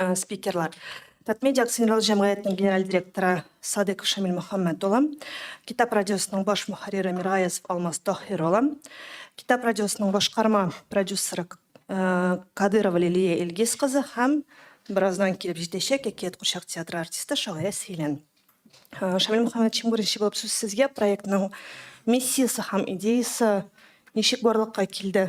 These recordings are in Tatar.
ә, спикерлар. Татмедиа акционерлы җәмгыятенең генераль директоры Садык Шамил Мөхәммәд улы, Китап радиосының баш мөхәррире Миргаязов Алмаз Таһир улы, Китап радиосының башкарма продюсеры э, Кадырова Лилия Илгиз кызы һәм бераздан килеп җитәчәк Әкият курчак театры артисты Шагыйрә Силән. Э, Шамил Мөхәммәдшин беренче булып сүз сезгә проектның миссиясе һәм идеясы ничек барлыкка килде?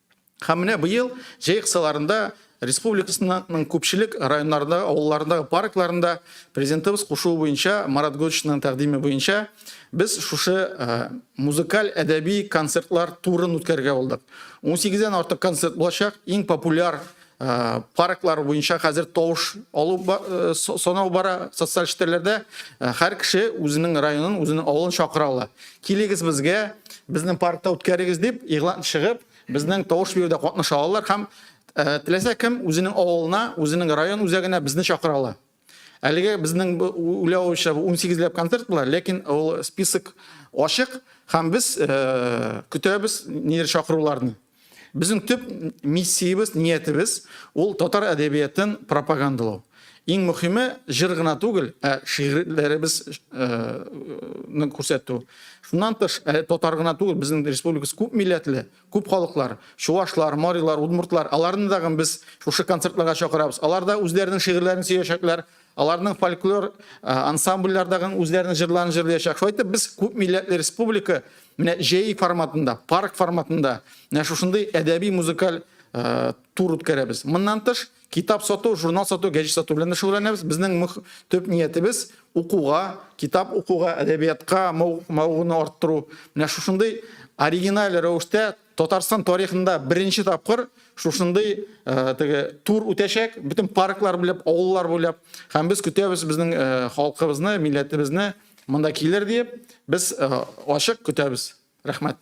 Һәм менә быел җәй кысаларында республикасының күпчелек районнарында, авылларындагы паркларында президентыбыз кушуы буенча, Марат Гөлчинның тәкъдиме буенча без шушы э, музыкаль әдәби концертлар турын үткәрергә булдык. 18 дән артык концерт булачак. Иң популяр парклар буенча хәзер тавыш алу санау бара социаль челтәрләрдә һәр кеше үзенең районын үзенең авылын чакыра ала килегез безгә безнең паркта үткәрегез дип игълан чыгып безнең тавыш бирүдә катнаша алалар һәм теләсә кем үзенең авылына үзенең район үзәгенә безне чакыра ала Әлеге безнең уйлау буенча 18 ләп концерт була, ләкин ул список ачык һәм без э, көтәбез нидер чакыруларны. Безнең төп миссиябез, ниятебез ул татар әдәбиятын пропагандалау. Иң мөхиме җыр гына түгел, ә шигырьләребез э, күрсәтү. Шуннан тыш, ә, татар гына түгел, безнең республикабыз күп милләтле, Күп халыклар, чувашлар, марилар, удмуртлар, аларны тагын без шушы концертларга чакырабыз. Алар да үзләренең шигырьләрен сөячәкләр, аларның фольклор ансамбльләр тагын үзләренең җырларын җырлыячак. Шулай итеп, без күп милләтле республика менә җәй форматында, парк форматында менә шушындый әдәби-музыкаль тур үткәрәбез. Моннан тыш, Китап сату, журнал сату, гәҗит сату белән дә шөгыльләнәбез. Безнең мөх, төп ниятебез укуга, китап укуга, әдәбиятка мавыгуны арттыру. Менә шушындый оригиналь рәвештә Татарстан тарихында беренче тапкыр шушындый э, теге тур үтәчәк, бөтен парклар буйлап, авыллар буйлап. Һәм без көтәбез безнең э, халкыбызны, милләтебезне монда килер диеп, без э, ачык көтәбез. Рәхмәт.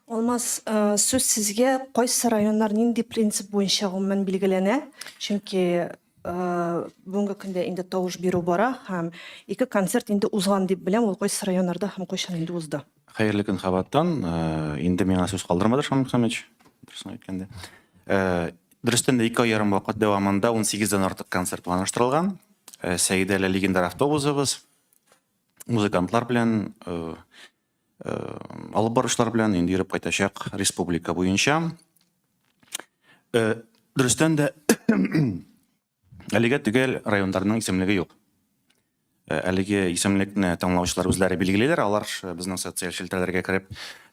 Алмаз, сүз сезгә. Кайсы районнар нинди принцип буенча гомумән билгеләнә? Чөнки бүгенге көндә инде тавыш бирү бара һәм ике концерт инде узган дип беләм, ул кайсы районнарда һәм кайчан инде узды? Хәерле көн кабаттан. Инде миңа сүз калдырмады Шамил Хәмич, дөресен әйткәндә. Дөрестән дә, ике ай ярым вакыт дәвамында унсигез дән артык концерт планлаштырылган. Сәидәле легендар автобусыбыз, музыкантлар белән алып барышлар белән инде йөреп кайтачак республика буенча. Дөрестән дә әлегә төгәл районнарның исемлеге юк. Әлеге исемлекне таңлаучылар үзләре билгелиләр, алар безнең социаль челтәрләргә кереп,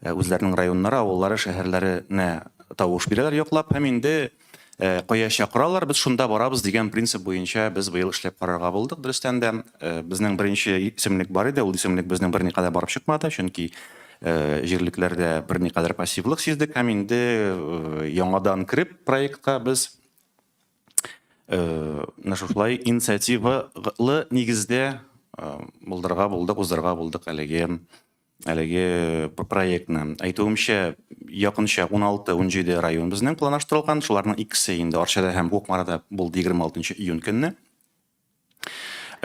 үзләренең районнары, авыллары, шәһәрләренә тавыш бирәләр яклап һәм инде Кая чакыралар, без шунда барабыз дигән принцип буенча без быел эшләп карарга булдык. Дөрестән дә, безнең беренче исемлек бар иде, ул исемлек безнең берникадәр барып чыкмады, чөнки җирлекләрдә берникадәр пассивлык сиздек. Һәм инде яңадан кереп проектка без менә шушылай инициативалы нигездә булдырырга булдык, уздырырга булдык әлеге Әлеге проектны, әйтүемчә, якынча 16-17 район безнең планлаштырылган. Шуларның икесе инде Арчада һәм Кукмарада булды 26 июнь көнне.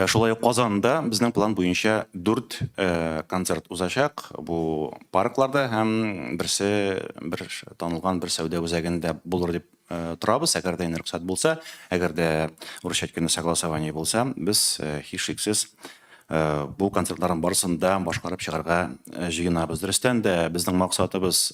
Шулай ук Казанда безнең план буенча 4 концерт узачак. Бу паркларда һәм берсе бер танылган бер сәүдә үзәгендә булыр дип Э, торабыз әгәр дә рөхсәт булса әгәр дә урысча әйткәндә согласование булса без э, һичшиксез э, бу концертларның барысын да башкарып чыгарга җыенабыз дөрестән дә безнең максатыбыз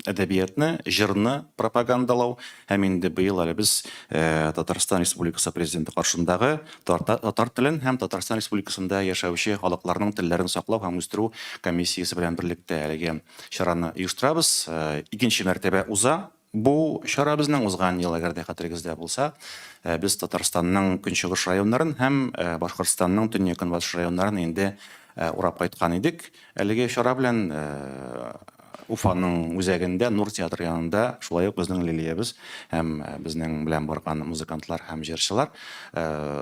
әдәбиятны җырны пропагандалау һәм инде быел әле без татарстан республикасы президенты каршындагы татар телен һәм татарстан республикасында яшәүче халыкларның телләрен саклау һәм үстерү комиссиясе белән берлектә әлеге чараны оештырабыз. Икенче мәртәбә уза бу чара безнең. Узган ел, әгәр дә хәтерегездә булса, без Татарстанның көнчыгыш районнарын һәм Башкортстанның төньяк-көнбатыш районнарын инде урап кайткан идек. Әлеге чара белән Уфаның үзәгендә, Нур театры янында, шулай ук безнең Лилиябез һәм безнең белән барган музыкантлар һәм җырчылар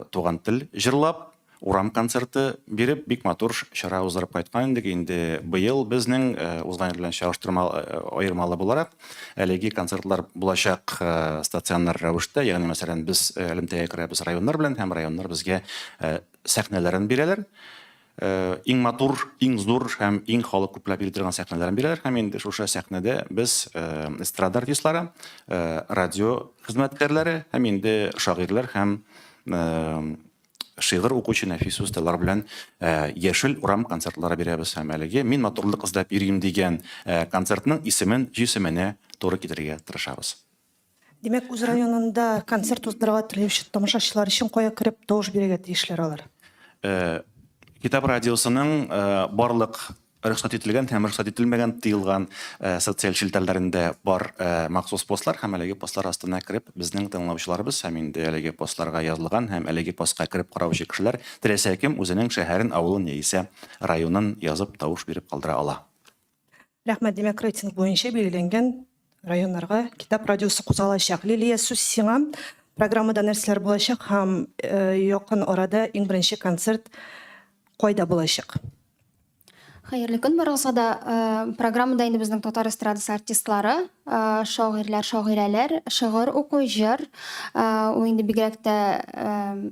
Туган тел җырлап, Урам концерты биреп, бик матур чара уздырып кайткан идек. Инде быел безнең узган ел белән чагыштырма аермалы буларак, әлеге концертлар булачак стационар рәвештә, ягъни мәсәлән, без элемтәгә керәбез районнар белән һәм районнар безгә сәхнәләрен бирәләр. Иң матур, иң зур һәм иң халык күпләп йөри торган сәхнәләрен бирәләр һәм инде шушы сәхнәдә без эстрада артистлары, радио хезмәткәрләре һәм инде шагыйрьләр һәм шигырь укучы нәфис усталар белән э, яшел урам концертлары бирәбез һәм әлеге мин матурлык эзләп йөрим дигән э, концертның исемен җисеменә туры китерергә тырышабыз Димәк, үз районында концерт уздырырга теләүче тамашачылар өчен кая кереп тавыш бирергә тиешләр алар? Э, китап радиосының э, барлык рөхсәт ителгән һәм рөхсәт ителмәгән тыелган э, социаль челтәрләрендә бар э, махсус постлар һәм әлеге постлар астына кереп безнең тыңлаучыларыбыз һәм инде әлеге постларга язылган һәм әлеге постка кереп караучы кешеләр теләсә кем үзенең шәһәрен авылын яисә районын язып тавыш биреп калдыра ала рәхмәт димәк рейтинг буенча билгеләнгән районнарга китап радиосы кузгалачак. Лилия, сүз сиңа. Программада нәрсәләр булачак һәм якын арада иң беренче концерт кайда булачак? Хәерле көн барыгызга да. Программада инде безнең татар эстрадасы артистлары, шагыйрьләр, шагыйрәләр, шыгыр уку, җыр. Ул инде бигрәк тә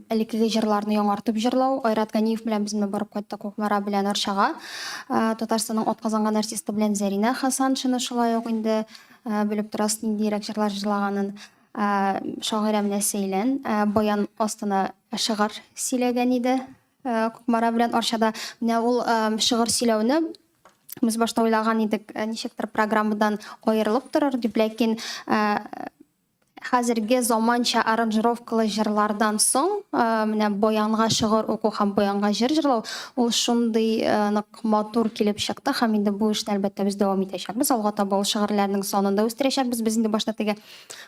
элеккеге җырларны яңартып җырлау. Айрат Ганиев белән без менә барып кайттык Кукмара белән Арчага. Татарстанның атказанган артисты белән Зәринә Хасаншина шулай ук инде белеп торасыз ниндиерәк җырлар җырлаганын. Шагыйрә менә Сәйлән баян астына шыгар сөйләгән иде. Кукмара белән Арчада. Менә ул шыгыр сөйләүне без башта уйлаган идек, ничектер программадан аерылып торыр дип, ләкин Хәзерге заманча аранжировкалы җырлардан соң, э, менә баянга шыгыр уку һәм баянга җыр җырлау, ул шундый э, нык матур килеп чыкты һәм инде бу эшне әлбәттә без дәвам итәчәкбез. Алга таба ул шыгырьләрнең санын да үстерәчәкбез. Без инде башта теге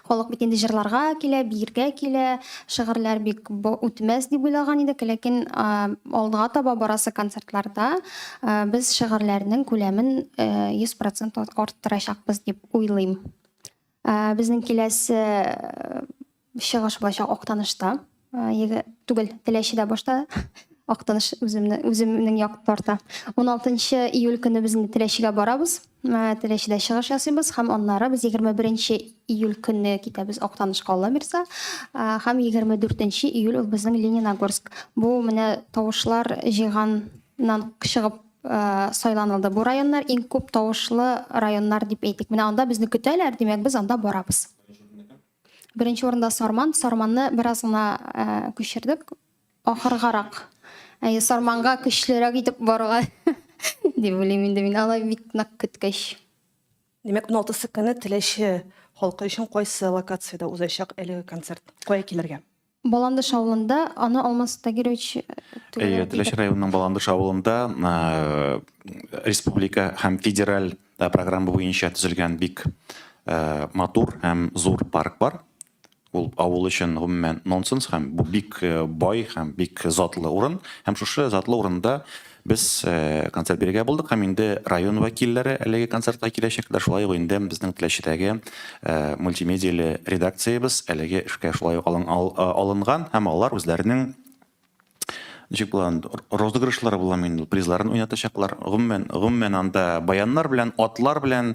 халык бит инде җырларга килә, биергә килә, шыгырьләр бик үтмәс дип уйлаган идек, ләкин э, алга таба барасы концертларда э, без шыгырьләрнең күләмен э, 100% арттырачакбыз дип уйлыйм. Ә, безнең киләсе чыгыш булачак Актанышта. Еге, түгел, Теләчедә башта Актаныш үземне үземнең як тарта. 16 июль көне без инде Теләчегә барабыз. Теләчедә чыгыш ясыйбыз һәм аннары без 21 июль көне китәбез Актанышка Алла бирсә, һәм 24 июль ул безнең Лениногорск. Бу менә тавышлар җыйганнан чыгып сайланылды. Бу районнар иң күп тавышлы районнар дип әйтик. Менә анда безне көтәләр, димәк, без анда барабыз. Беренче урында Сарман. Сарманны бераз гына күчердек. Ахыргарак. Әйе, Сарманга көчлерәк итеп баруга дип уйлыйм инде мин. Алай бик нык көткәч. Димәк, 16 көне Теләче халкы өчен кайсы локациядә узачак әлеге концерт? Кая килергә? Баландыш авылында аны Алмаз Тагирович Әйе, Теләче районының Баландыш авылында республика һәм федераль программа буенча төзелгән бик матур һәм зур парк бар. Ул авыл өчен гомумән нонсенс һәм бу бик бай һәм бик затлы урын. Һәм шушы затлы урында Без концерт бирергә булдык һәм инде район вәкилләре әлеге концертка киләчәкләр. Шулай ук инде безнең Теләчедәге мультимедияле редакциябез әлеге эшкә шулай ук алынган һәм алар үзләренең ничек була анда, розыгрышлары буламы инде ул, призларын уйнатачаклар. Гомумән, гомумән анда баяннар белән, атлар белән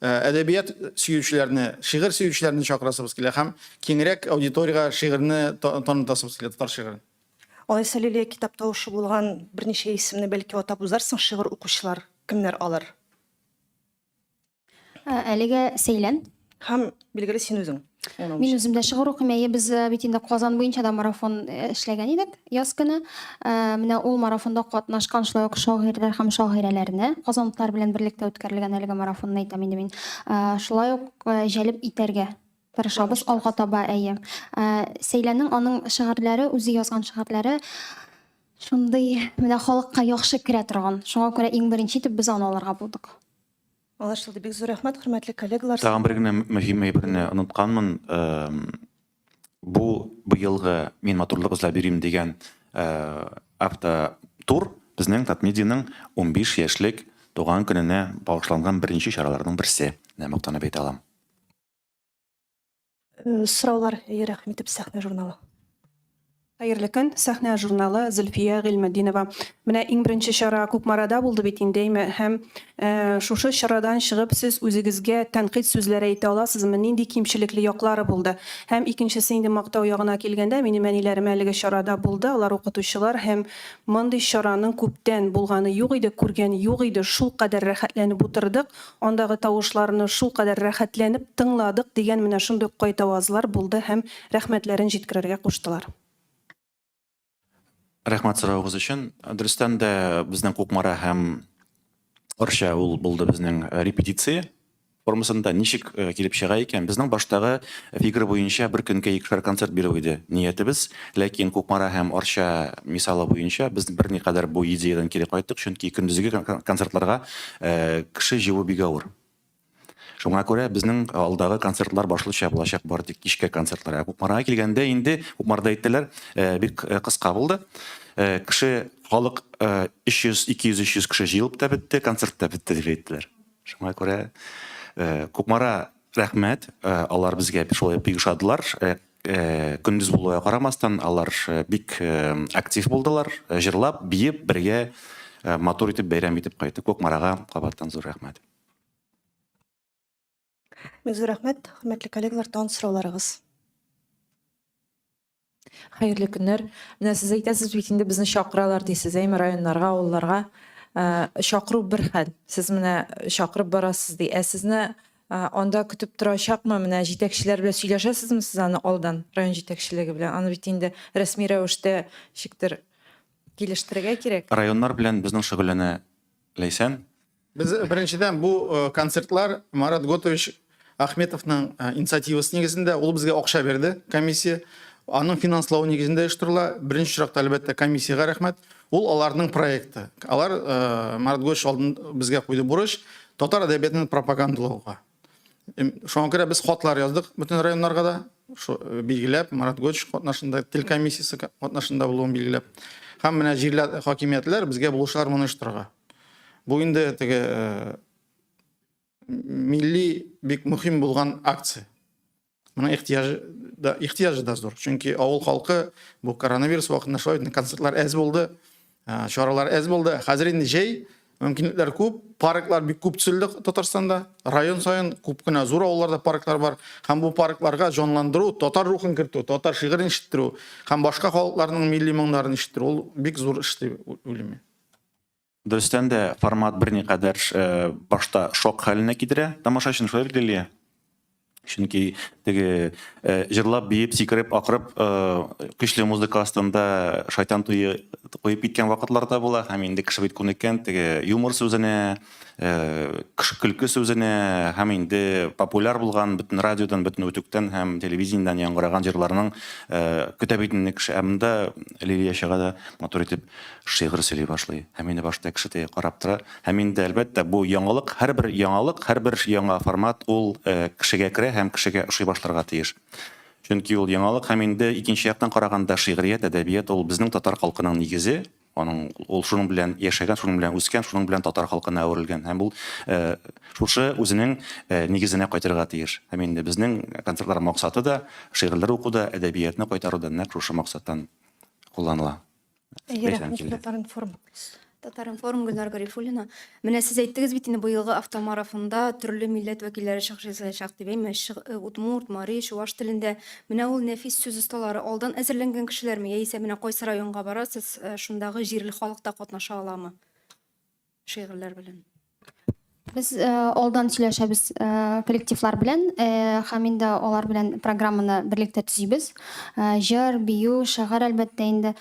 Э, әдәбият сөючеләрне, шигырь сөючеләрне чакырасыбыз килә һәм киңрәк аудиториягә шигырьне танытасыбыз килә, татар шигырен. Алайса Лилия китап тавышы булган берничә исемне бәлки атап узарсың, шигырь укучылар кемнәр алар? Э, әлегә Сәйлән. Һәм билгеле син үзең. Мин үзем дә шигырь укыйм. Әйе, без э, бит инде Казан буенча да марафон э, эшләгән идек яз көне. Э, менә ул марафонда катнашкан шулай ук шагыйрьләр һәм шагыйрәләрне казанлылар белән берлектә үткәрелгән әлеге марафонны әйтәм инде мин. Шулай ук җәлеп итәргә тырышабыз алга таба, әйе. Сәйләнең аның шигырьләре, үзе язган шигырьләре шундый менә халыкка яхшы керә торган. Шуңа күрә иң беренче итеп без аны алырга булдык. Аңлашылды. Бик зур рәхмәт, хөрмәтле коллегалар. Тагын бер генә мөһим әйберне онытканмын. Бу быелгы Мин матурлык эзләп йөрим дигән автотур безнең Татмедианың унбиш яшьлек туган көненә багышланган беренче чараларның берсе, менә мактанып әйтә алам. Сораулар, әйе, рәхим итеп, сәхнә журналы. Хәерле көн, сәхнә журналы Зөлфия Гыйльметдинова. Менә иң беренче чара Кукмарада булды бит инде әйме, һәм э, шушы чарадан чыгып сез үзегезгә тәнкыйть сүзләре әйтә аласызмы, нинди кимчелекле яклары булды? Һәм икенчесе инде мактау ягына килгәндә, минем әниләрем әлеге чарада булды, алар укытучылар һәм мондый чараның күптән булганы юк иде, күргән юк иде, шул кадәр рәхәтләнеп утырдык, Андагы тавышларны шулкадәр рәхәтләнеп тыңладык, дигән менә шундый ук кайтавазлар булды һәм рәхмәтләрен җиткерергә куштылар. Рәхмәт соравыгыз өчен. Дөрестән дә безнең Кукмара һәм Арча ул булды безнең репетиция формасында. Ничек килеп чыга икән? Безнең баштагы фигра буенча бер көнгә икешәр концерт бирү иде ниятебез. Ләкин Кукмара һәм Арча мисалы буенча без берникадәр бу идеядән кире кайттык, чөнки көндезге концертларга кеше җыю бик авыр. Шуңа күрә безнең алдагы концертлар башлыча булачак бар тик кичке концертлар. Кукмарага килгәндә инде Кукмарда әйттеләр, бик кыска булды. Кеше, халык 300, 200, 300 кеше җыелып та бетте, концерт та бетте дип әйттеләр. Шуңа күрә Кукмара рәхмәт, алар безгә шулай бик ошадылар. Көндез булуга карамастан, алар бик актив булдылар, җырлап, биеп, бергә матур итеп бәйрәм итеп кайтты. Кукмарага кабаттан зур рәхмәт! Бик зур рәхмәт, хөрмәтле коллегалар, тагын сорауларыгыз? Хәерле көннәр! Менә сез әйтәсез бит инде, безне чакыралар дисез, әйме, районнарга, авылларга. Чакыру бер хәл, сез менә чакырып барасыз ди, ә сезне Ә, анда көтеп торачакмы? Менә җитәкчеләр белән сөйләшәсезме сез аны алдан, район җитәкчелеге белән? Аны бит инде рәсми рәвештә ничектер килештерергә кирәк. Районнар белән безнең шөгыльләнә Ләйсән. Без, беренчедән, бу э, концертлар Марат Готович Ахметовның э, инициативасы нигезендә, ул безгә акча бирде, комиссия. Аның финанслауы нигезендә оештырыла. Беренче чиратта, әлбәттә, комиссиягә рәхмәт. Ул аларның проекты. Алар Марат Гойш алдын безгә куйды бурыч татар әдәбиятын пропагандалауга. Шуңа күрә без хатлар яздык бөтен районнарга да, билгеләп, Марат Гойш катнашында, тел комиссиясе катнашында булуын билгеләп. Һәм менә җирле хакимиятләр безгә булышлар моны оештырырга. Бу инде теге милли бик мөһим булган акция. Моның ихтияҗы да, ихтияҗы да зур. Чөнки авыл халкы бу коронавирус вакытында шулай инде концертлар әз булды, ә, чаралар әз булды. Хәзер инде җәй, мөмкинлекләр күп, парклар бик күп төзелде Татарстанда. Район саен күп кенә зур авылларда парклар бар. Һәм бу паркларга җанландыру, татар рухын кертү, татар шигырен ишеттерү һәм башка халыкларның милли моңнарын ишеттерү ул бик зур эш дип уйлыйм мин. Дөрестән дә, формат берникадәр башта шок хәленә китерә тамашачыны, шулай бит, Лилия? Чөнки теге җырлап, биеп, сикереп, акырып, көчле музыка астында Шайтан туе куеп киткән вакытлар да була. Һәм инде кеше бит күнеккән теге юмор сүзенә, көлке сүзенә һәм инде популяр булган бөтен радиодан, бөтен үтүктән һәм телевидениедән яңгыраган җырларның көтә бит инде кеше. Ә монда Лилия чыга да матур итеп Шигырь сөйли башлый һәм мине башта кешедәй карап тора. Һәм инде, әлбәттә, бу яңалык, һәрбер яңалык, һәрбер яңа формат ул кешегә керә һәм кешегә ошый башларга тиеш. Чөнки ул яңалык һәм инде икенче яктан караганда шигърият, әдәбият ул безнең татар халкының нигезе, аның ул шуның белән яшәгән, шуның белән үскән, шуның белән татар халкына әверелгән һәм ул шушы үзенең нигезенә кайтырга тиеш. Һәм инде безнең концертлар максаты да, шигырьләр уку да, әдәбиятны кайтару да нәкъ шушы максаттан кулланыла. Татар-информ. Татар-информ, Гөлнар Гарифуллина. Менә сез әйттегез бит инде, быелгы автомарафонда төрле милләт вәкилләре чыгыш ясаячак дип, әйме, э, удмурт, мари, чуваш телендә. Менә ул нәфис сүз осталары алдан әзерләнгән кешеләрме? Яисә менә кайсы районга барасыз, э, шундагы җирле халык та катнаша аламы? шигырьләр белән. Без э, алдан сөйләшәбез э, коллективлар белән э, һәм инде алар белән программаны берлектә төзибез. Э, җыр, бию, шагар әлбәттә инде.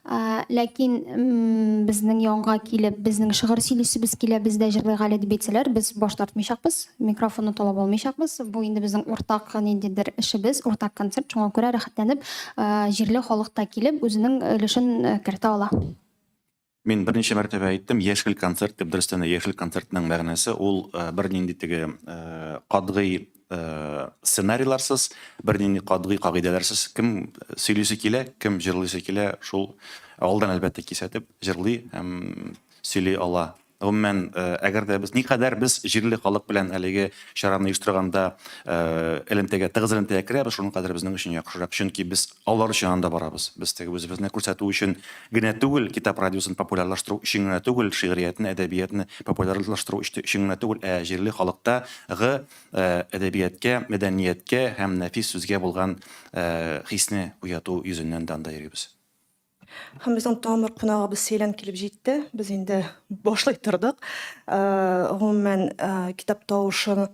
Э, ләкин безнең янга килеп, безнең шигырь сөйлисебез килә, без дә җырлыйк әле дип әйтсәләр, без баш тартмыйчакбыз, микрофонны талап алмыйчакбыз. Бу инде безнең уртак ниндидер эшебез, уртак концерт. Шуңа күрә рәхәтләнеп, э, җирле халык та килеп, үзенең өлешен э, кертә ала. Мин берничә мәртәбә әйттем, яшел концерт дип, дөрестән дә яшел концертның мәгънәсе ул бернинди теге катгый сценарийларсыз, бернинди катгый кагыйдәләрсез кем сөйлисе килә, кем җырлыйсы килә, шул алдан әлбәттә кисәтеп җырлый һәм сөйли ала. Гомумән, әгәр дә без никадәр без җирле халык белән әлеге чараны оештырганда элемтәгә, тыгыз элемтәгә керәбез, шуның кадәр безнең өчен яхшырак. Чөнки без Алар өчен анда барабыз. Без теге үзебезне күрсәтү өчен генә түгел, китап радиосын популярлаштыру өчен генә түгел, шигъриятне, әдәбиятны популярлаштыру өчен генә түгел, ә җирле халыкта гы әдәбияткә, мәдәнияткә һәм нәфис сүзгә булган хисне уяту йөзеннән дә анда йөрибез. Һәм безнең тагын бер кунагыбыз Сәйлән килеп җитте. Без инде башлый тордык. Гомумән, китап тавышын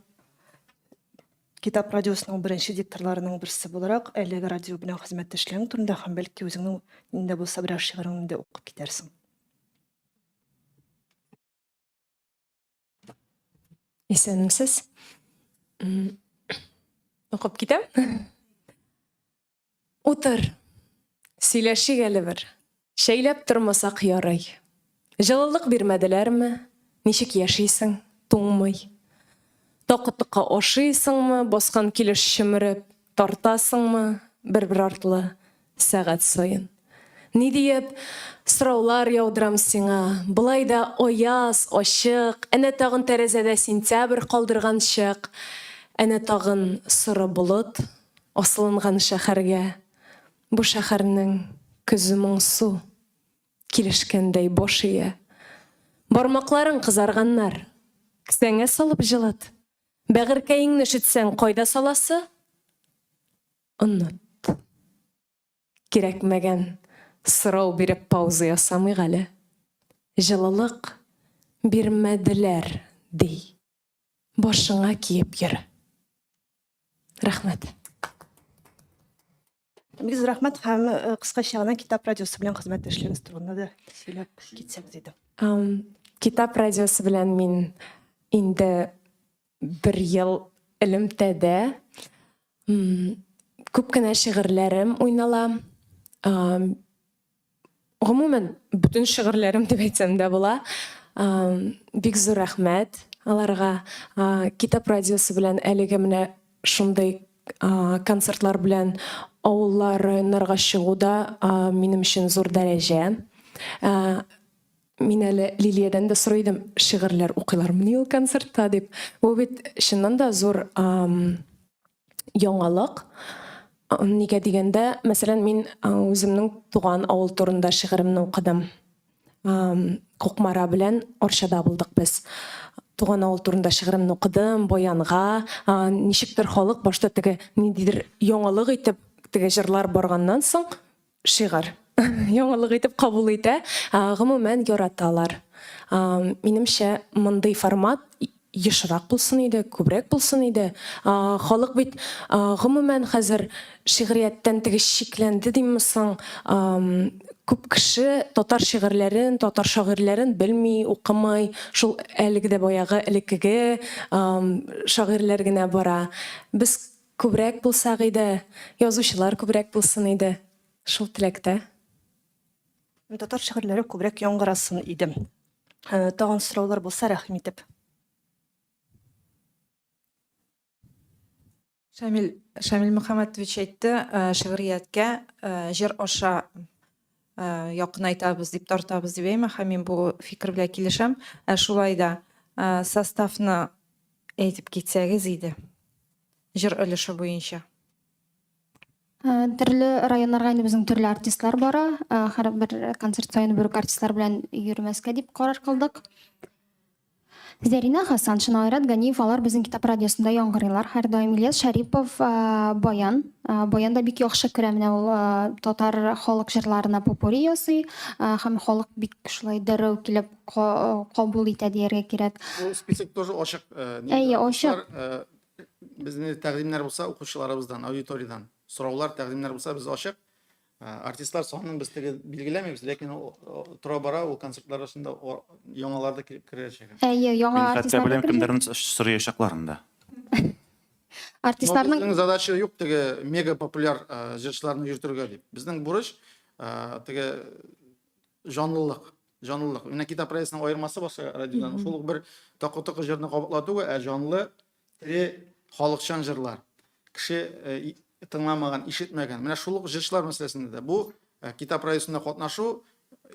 Китап радиосының беренче дикторларының берсе буларак, әлеге радио белән хезмәттәшлегең турында һәм бәлки үзеңнең нинди булса берәр шигыреңне дә укып китәрсең. Исәнмесез. Укып китәм. Утыр, сөйләшик әле бер. Чәйләп тормасак ярый. Җылылык бирмәделәрме? Ничек яшисең, туңмый? Такытыкка ашыйсыңмы, баскан килеш чөмереп, тартасыңмы бер-бер артлы сәгать саен? Ни диеп сораулар яудырам сиңа, болай да аяз, ачык, әнә тагын тәрәзәдә сентябрь калдырган чык, әнә тагын соры болыт Асылынган шәхәргә Бу шәхәрнең көзе моңсу, Килешкәндәй баш ия. Бармакларың кызарганнар, Кесәңә салып җылыт. Бәгырькәеңне өшетсәң, Кайда саласы? Оныт. Кирәкмәгән сорау биреп пауза ясамыйк әле. Җылылык бирмәделәр, ди. башыңа киеп йөр. Рәхмәт. Бик зур рәхмәт һәм э, кыскача гына Китап радиосы белән хезмәттәшлегегез турында да сөйләп китсәгез иде. Китап радиосы белән мин инде бер ел элемтәдә күп кенә шигырьләрем уйнала. Гомумән, бөтен шигырьләрем дип әйтсәм дә була. Бик зур рәхмәт аларга. Китап радиосы белән әлеге менә шундый концертлар белән авыллар, районнарга чыгу да минем өчен зур дәрәҗә. Мин әле Лилиядән дә сорый идем, шигырьләр укыйлармыни ул концертта дип. Бу бит чыннан да зур яңалык. Нигә дигәндә, мәсәлән, мин үземнең туган авыл турында шигыремне укыдым. Кукмара белән Арчада булдык без. Туган авыл турында шигыремне укыдым, баянга. Ничектер халык башта теге ниндидер яңалык итеп теге җырлар барганнан соң, Шигырь. Яңалык итеп кабул итә. Гомумән, яраталар. Минемчә, мондый формат ешрак булсын иде, күбрәк булсын иде. Халык бит, гомумән, хәзер шигърияттән теге чикләнде димме соң, күп кеше татар шигырьләрен, татар шагыйрьләрен белми, укымый, шул әлеге дә баягы элеккеге шагыйрьләр генә бара. Без Күбрәк булсак иде, язучылар күбрәк булсын иде, шул теләктә. Татар шигырьләре күбрәк яңгырасын иде. Тагын сораулар булса, рәхим итеп. Шамил Шамил Мөхәммәтович әйтте, шигърияткә җыр аша якынайтабыз дип тартабыз дип әйме һәм мин бу фикер белән килешәм ә шулай да составны әйтеп китсәгез иде җыр өлеше буенча төрле районнарга инде безнең төрле артистлар бара һәрбер концерт саен бер үк артистлар белән йөрмәскә дип карар кылдык Зәринә Хәсаншина, Айрат Ганиев алар безнең Китап радиосында яңгырыйлар һәрдаим. Ильяс Шәрипов баян. Баян да бик яхшы керә. Менә ул татар халык җырларына попури ясый һәм халык бик шулай дәррәү килеп кабул итә дияргә кирәк. Бу список тоже ачык. Әйе, ачык. Безнең тәкъдимнәр булса укучыларыбыздан, аудиториядән сораулар, тәкъдимнәр булса без ачык. Ә, артистлар санын без теге билгеләмибез, ләкин ул о, тора-бара ул концертлар арасында о, яңалар да кер- керәчәк. Әйе, яңа Мин хәтта артистлар беләм, да керде. кемнәрне сораячакларын да. Но Артистларның безнең задача юк теге мега популяр ә, җырчыларны йөртергә дип. Безнең бурыч ә, теге җанлылык, җанлылык. Менә Кита проектының аермасы башка радиодан. Шул ук бер такы-токы җырны кабатлату, ә җанлы Тере халыкчан җырлар. Кеше э, тыңламаган, ишетмәгән. Менә шул ук җырчылар мәсьәләсендә дә бу э, китап районында катнашу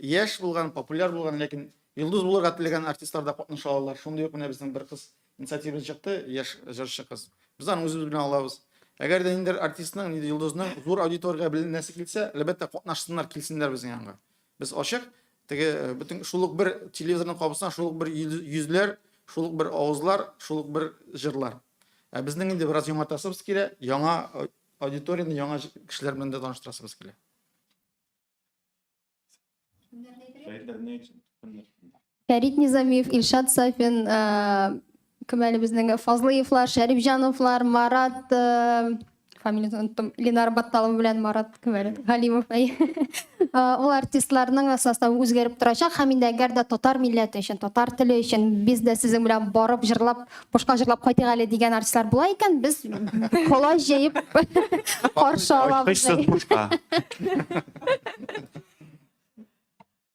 яшь булган, популяр булган, ләкин йолдыз булырга теләгән артистлар да катнаша алалар. Шундый ук менә безнең бер кыз инициатива чыкты, яшь җырчы кыз. Без аны үзебез белән алабыз. Әгәр дә ниндидер артистның, ниндидер йолдызның зур аудиториягә беленәсе килсә, әлбәттә катнашсыннар, килсеннәр безнең янга. Без ачык, Теге э, бөтен шул ук бер телевизорның кабысына шул ук бер йөзләр, шул ук бер авызлар, шул ук бер җырлар. Ә безнең инде бераз яңартасыбыз килә, яңа э, аудиторияне яңа кешеләр белән дә таныштырасыбыз килә. Фәрит Низамиев, Илшат Сафин, э, Кем әле безнең Фазлыевлар, Шәрипҗановлар, Марат, фамилиясен оныттым, Ленар Батталов белән Марат кем әле? Галимов. Ул артистларның составы үзгәреп торачак һәм инде әгәр дә татар милләте өчен, татар теле өчен без дә сезнең белән барып җырлап, бушка җырлап кайтыйк әле дигән артистлар була икән, без колач җәеп каршы алабыз. Ачкычсыз бушка.